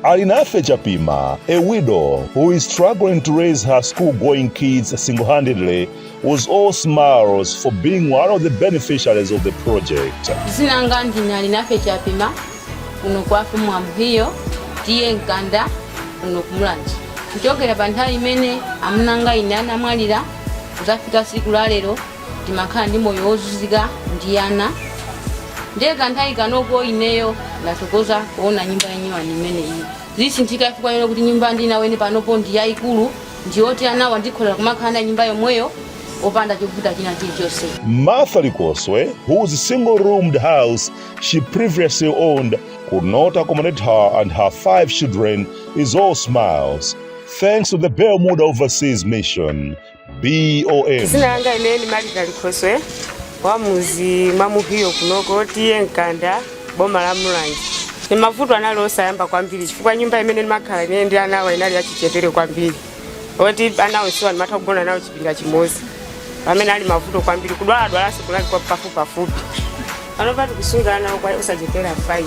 Alinafe Chapima, a widow who is struggling to raise her school-going kids single-handedly, was all smiles for being one of the beneficiaries of the project. zina langa ndine alinafe chapima kuno kwathu mwa muhiyo TA mkanda kuno kumulanje kuchokera pa nthawi imene amunanga ine anamwalira kuzafika siku la lero timakhala ndi moyo wozunzika ndi ana ndiye kanthawi kanoko ineyo ndathokoza kuona nyumba yanyuwani imeneyi zisinthika chifukwa chonena kuti nyumba ndinaweni panopo ndi yayikulu ndiyoti anawa ndikhoza kumakhala nawo nyumba yomweyo opanda chovuta china chilichonse Martha Likoswe, whose single roomed house she previously owned, could not accommodate her and her five children, is all smiles. Thanks to the Bermuda Overseas Mission, BOM. zina langa ine ndi malita likhoswe wa muzi mwa muhiyo kunoko TA mkanda boma la mulanje ni mavuto anali osayamba kwambiri chifukwa nyumba imene ndimakhala ine ndi anawa inali yachichepere kwambiri oti ana onsewa ndimatha kugona nawo chipinda chimodzi pamene ali mavuto kwambiri kudwaladwalanso kunali kwa pafupipafupi panopa tikusunga ana okwa- osachepera 5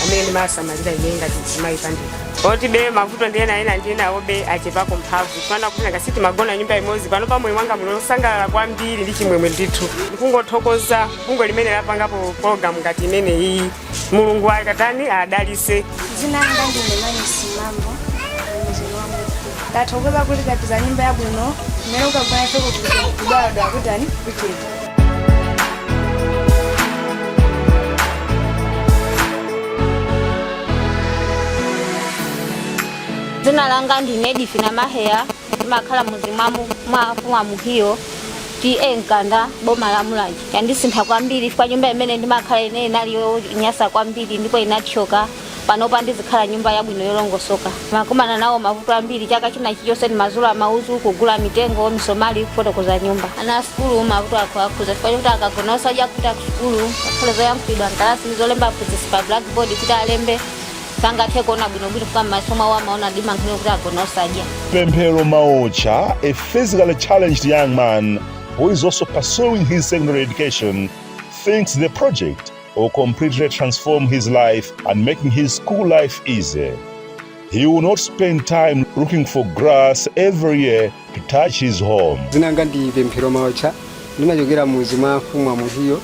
amene ndimawasamalira ine ngati mzimayi pandekha poti be mavuto ndi ena ena ndi enawobe achepako mphamvu fana kuti ngasi timagona nyumba imodzi panopa moyo wanga muno osangalala kwambiri ndi chimwemwe ndithu ndikungothokoza bungwe limene lapangapo pologalamu ngati imene iyi mulungu akatani adalise Zina langa ndine Manesi Mambo. Ndathokoza kuti tapeza nyumba yabwino, mmene ukagona ifeko kudwala kutani kuchira. dzina langa ndine edifina maheya ndimakhala mudzi mwa mu- mwa afumu a muhiyo TA mkanda boma la mulanje yandisintha kwambiri chifukwa nyumba imene ndimakhala ine inali yonyasa kwambiri ndipo inathyoka Panopa ndizikhala nyumba yabwino yolongosoka. Ndimakumana nawo mavuto ambiri. Chaka china chilichonse ndimazula mauzu, kugula mitengo, misomali, kufotokoza nyumba. Ana a sukulu mavuto akuwakhudza chifukwa chokuti akagona osadya, kupita kusukulu, ngakhale zoyankhulidwa m'kalasi ndi zolemba aphunzitsi pa blackboard kuti alembe, sangathe kuona bwinobwino chifukwa m'maso mwawo amaona mdima nkhani yokuti agona osadya. Pemphero Maotcha, a physically challenged young man who is also pursuing his secondary education, thinks the project will completely transform his life and making his school life easy. He will not spend time looking for grass every year to thatch his home. zinanga ndi pemphero maotcha ndimachokera muzi mwa mfumu a muhiyo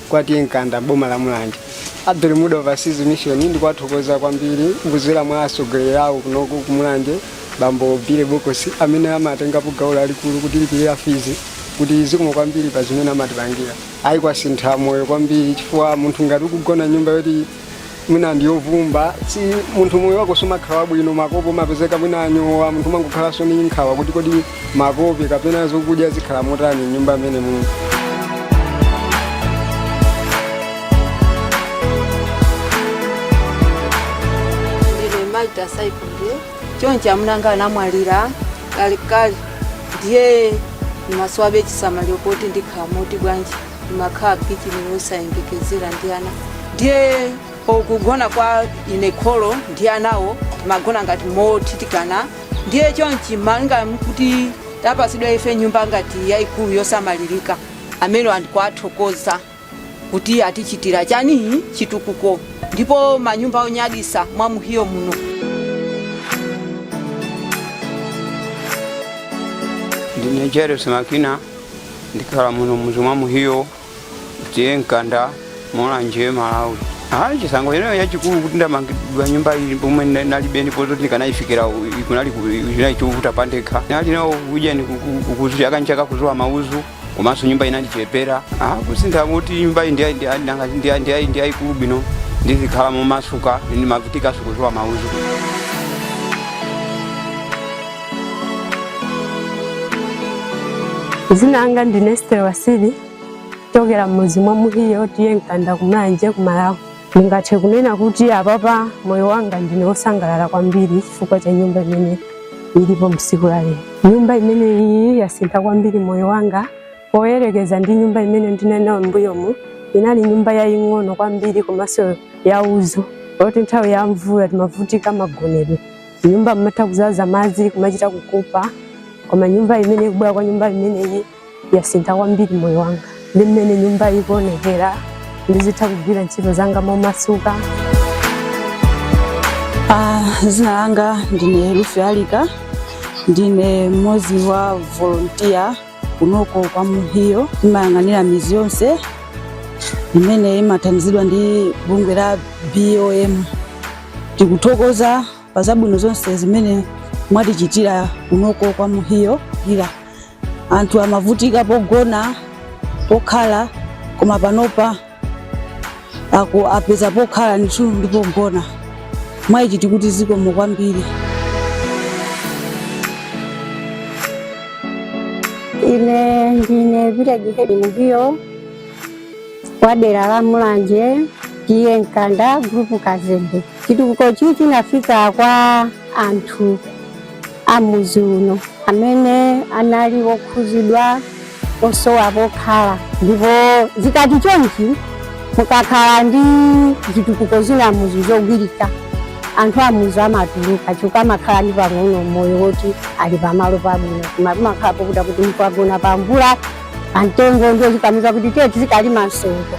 kwa TA mkanda boma la mulanje a Bermuda overseas mission ndikuwathokoza kwambiri kuzera mwa atsogoleri awo kunoko kumulanje bambo bile bokosi amene amatengapo gawo lalikulu kutilipirira fizi kuti zikomo kwambiri pa zimene amatipangira ayi kwasintha moyo kwambiri chifukwa munthu ngati ukugona m'nyumba yoti mwina ndiyovumba si munthu moyo wako sumakhala wabwino makope umapezeka mwina anyowa munthu umangokhalanso ni nkhawa kuti kodi makope kapena zokudya zikhala motani m'nyumba mmene munthu chonchi amuna anga anamwalira kalekale ndiye ndimasowabe chisamaliro koti ndikhala moti bwanji ndimakhala kitchini yosayembekezera ndi ana ndiye kugona kwa ine kholo ndi anawo timagona ngati mothithikana ndiye chonchi malinga kuti tapasidwa ife nyumba ngati yayikulu yosamalirika amene andikwathokoza kuti atichitira chani chitukuko ndipo manyumba onyadisa mwa muhiyo muno. Ndine Jairus Makina ndikhala muno mudzi mwa Muhiyo T/A Mkanda Mulanje Malawi. Ayi chisangalalo ineyo n'chachikulu kuti ndamangidwa nyumba iyi pomwe nalibe ndipo zoti ndikanayifikira kunali ku- kunali chovuta pandekha. Ndinali nawo ujeni ku- ku- ku- kuzu chaka nchaka kuzula mauzu komanso nyumba inandichepera ah, kusintha kuti nyumbayi ndi yayikulu bwino ndizikhala momasuka ndimavutikanso kuzula mauzu zina langa ndine Esther Wasili ochokera m'mudzi mwa Muhiyo T/A Mkanda ku Mulanje ku Malawi Ndingathe kunena kuti apapa moyo wanga ndine wosangalala kwambiri chifukwa cha nyumba imene ilipo msiku la lero. Nyumba imene iyi yasintha kwambiri moyo wanga poyerekeza ndi nyumba imene ndinali nayo m'mbuyomu. Inali nyumba yaying'ono kwambiri komanso yauzu yoti nthawi ya mvula timavutika magonedwe. M'nyumba mmatha kuzaza madzi kumachita kukapa, koma nyumba imene kubwera kwa nyumba imeneyi yasintha kwambiri moyo wanga ndi mmene nyumba ikuonekera ndizitha kugwira ntchito zanga momasuka Ah, zina langa ndine Ruth Alika ndine mmodzi wa mavolontiya kunoko kwa Muhiyo ndimayang'anira mizi yonse imene imathandizidwa ndi bungwe la BOM tikuthokoza pa zabwino zonse zimene mwatichitira kunoko kwa Muhiyo ila anthu amavutika pogona pokhala koma panopa apeza pokhala ndithu ndi pogona mwaichi tikuti zikomo kwambiri Ine ndine Village Head Muhiyo wa dera la Mulanje T/A Mkanda gulupu Kazembe. Chitukuko ichi chinafika kwa anthu a mudzi uno amene anali okhudzidwa osowa pokhala ndipo zikati chonchi mukakhala ndi zitukuko zina m'mudzi zogwirika anthu a m'mudzi amatuluka chifukwa amakhala ndi pang'ono moyo woti ali pamalo pabwino koma pamakhala pokuta kuti ukugona pamvula pamtengo ndiye ukamuuza kuti tiye tizikalima msongo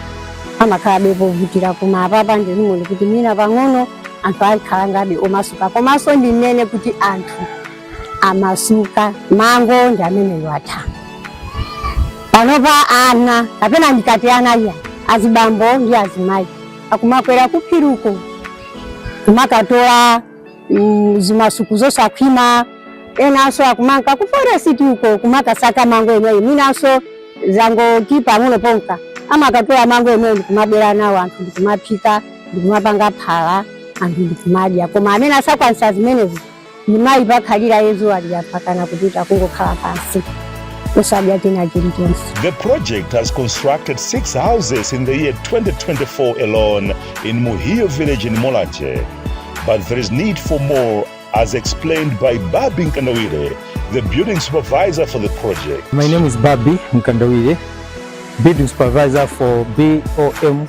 amakhalabe povutira koma apapa ndikuona kuti mwina pang'ono anthu akhala ngati omasuka komanso ndinene kuti anthu amasuka mango ndi amene atha panopa ana kapena ndikati ana iyayi azibambo ndi azimayi akumakwera kuphiriko kumakatola zimasuku zosakhwima enanso akumanka ku forest uko kumakasaka mango amenewa mwinanso zangoti panopa kunka kumakatola mango amenewa kumabwera nawo anthu ndikumaphika ndikumapanga phala anthu ndikumadya koma amene asakwanisa zimenezi ndiye mayi pakhalira yezu alira mpaka kupita kungokhala pansi konse osadya china chilichonse The project has constructed six houses in the year 2024 alone in Muhiyo village in Mulanje. But there is need for more, as explained by Babi Mkandawire, the building supervisor for the project. My name is Babi Mkandawire, building supervisor for BOM